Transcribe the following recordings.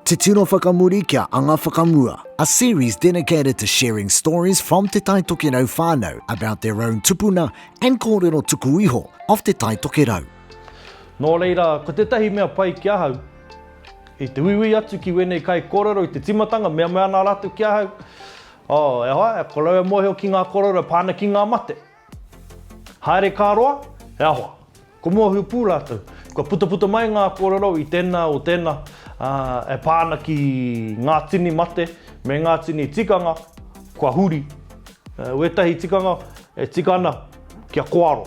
Te Tino Whakamuri kia Anga Whakamua A series dedicated to sharing stories from Te Tai Tokerau whānau about their own tupuna and kōrero tuku iho of Te Tai Tokerau. Nō reira, ko tētahi mea pai ki ahau, i te uiui atu ki wēnei kaikōrero i te tīmatanga, mea mai ana rātou ki ahau, oh, e hoa, ko rau e mōhio ki ngā kōrero e pā ana ki ngā mate. Haere ka roa, he aha? Ko mua hūpū rātou. Kua putaputa mai ngā kōrero i tēnā o tēnā, ā, e pā ana ki ngā tini mate me ngā tini tikanga kua huri. Wētahi tikanga e tika ana kia kōaro,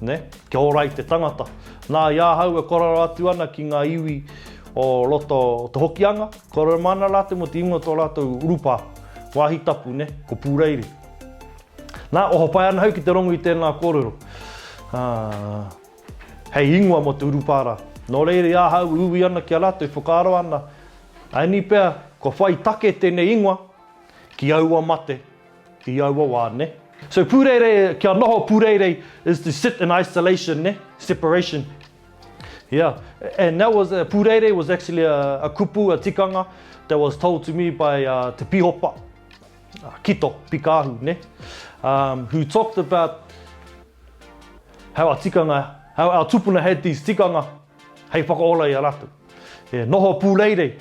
nē, kia ora ai te tangata. Nā, i ahau e kōrero atu ana ki ngā iwi o roto o Te Hokianga, kōrero māna rātou mō te ingoa o tō rātou urupā, wāhi tapu, nē, ko Pūreiri. Nā, oho pai ana au ki te rongu i tēnā kōrero. Ā, hei ingoa mō te urupārā. Nō reira, i ahau e uwi ana ki a rātou, e whakaaro ana, aini pea, kua whai take tēnei ingoa ki aua mate, i aua wā, nē. So, pūreirei, kia noho pūreirei is to sit in isolation, nē, separation. Ia, and that was, pūreirei was actually a kupu, a tikanga that was told to me by te pīhopa. Kito, Pikahu, ne? Um, who talked about how our tikanga, how our tupuna had these tikanga hei whakaora i a rātou. Yeah, noho pūreirei,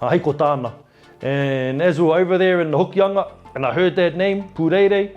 uh, hei ko tāna. And as we were over there in the Hokianga, and I heard that name, pūreirei,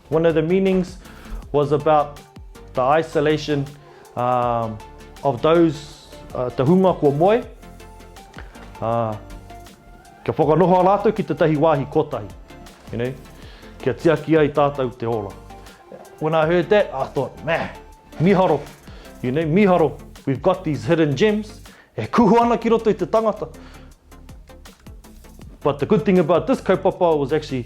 One of the meanings was about the isolation of those, te hunga kua moe, kia whakanoho rātou ki tētahi wāhi kotahi, you know, kia tiaki ai tātou te ora. When I heard that, I thought, meh, miharo, you know, miharo, we've got these hidden gems, e kuhu ana ki roto i te tangata. But the good thing about this kaupapa was actually,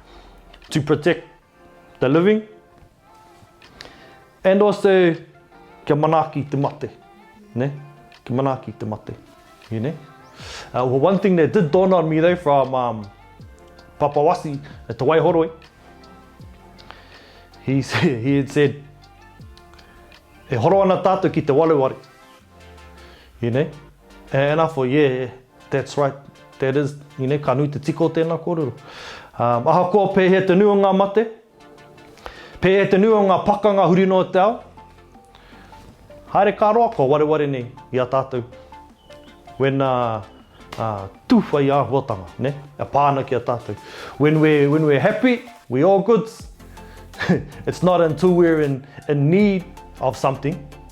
to protect the living and also kia manaaki te mate. Ne? Kia manaaki te mate. You know? Uh, well, one thing that did dawn on me though from um, Papawasi at Te Waihoroi, he, said, he had said, e horo ana tātou ki te wareware. You know? And I thought, yeah, That's right, that is, ine, ka nui te tika o tēnā kōrero. Um, ahakoa pēhea te nui o ngā mate, pēhea te nui o ngā pakanga huri noa te ao, haere ka roa kua wareware nei i a tātou. When uh, uh, tūwhai āhuatanga, ne? A pāna ki a tātou. When we're, when we're happy, we all goods. It's not until we're in, in need of something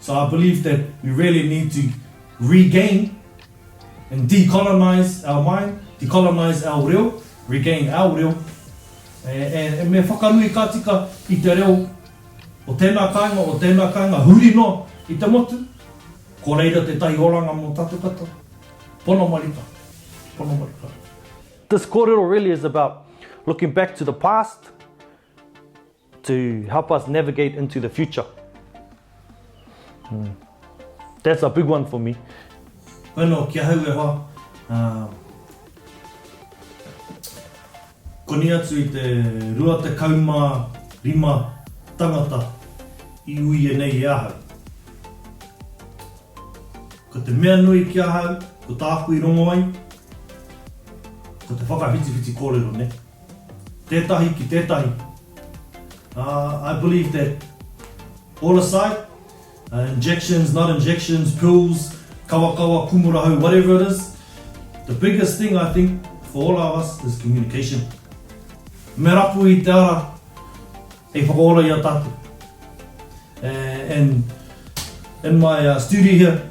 So I believe that we really need to regain and decolonise our mind, decolonise our reo, regain our reo, and me whakanui ka tika i te reo o tēnā kāinga, o tēnā kāinga huri noa i te motu, ko reira tētahi oranga mō tātou katoa. Pono marika. Pono marika. This kōrero really is about looking back to the past To help us navigate into the future. That's a big one for me. Koe no ki ahau e hoa, koni atu i te 25 tangata i uia nei e ahau. Ko te mea nui ki ahau, ko tāku i rongo ai, ko te whakawhitiwhiti kōrero nei. Tētahi ki tētahi. I believe that all aside, injections, not injections, pills, kawakawa, kumurahau, whatever it is, the biggest thing I think for all of us is communication. Me rapu i te ara hei whakaora i a tātou. And in my studio here,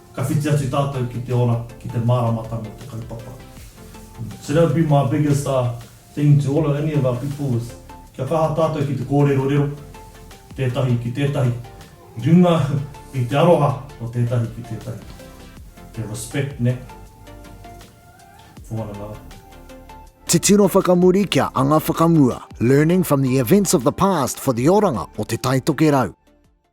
Ka whiti atu tātou ki te ora, ki te māramatanga o te kaupapa. So that would be my biggest uh thing to all of any of our people is kia kaha tātou ki te kōrerorero, tētahi ki tētahi, i runga i te aroha o tētahi ki tētahi. Te respect, nē, for one another. Titiro whakamuri kia anga whakamua, learning from the events of the past for the oranga o Te Taitokerau.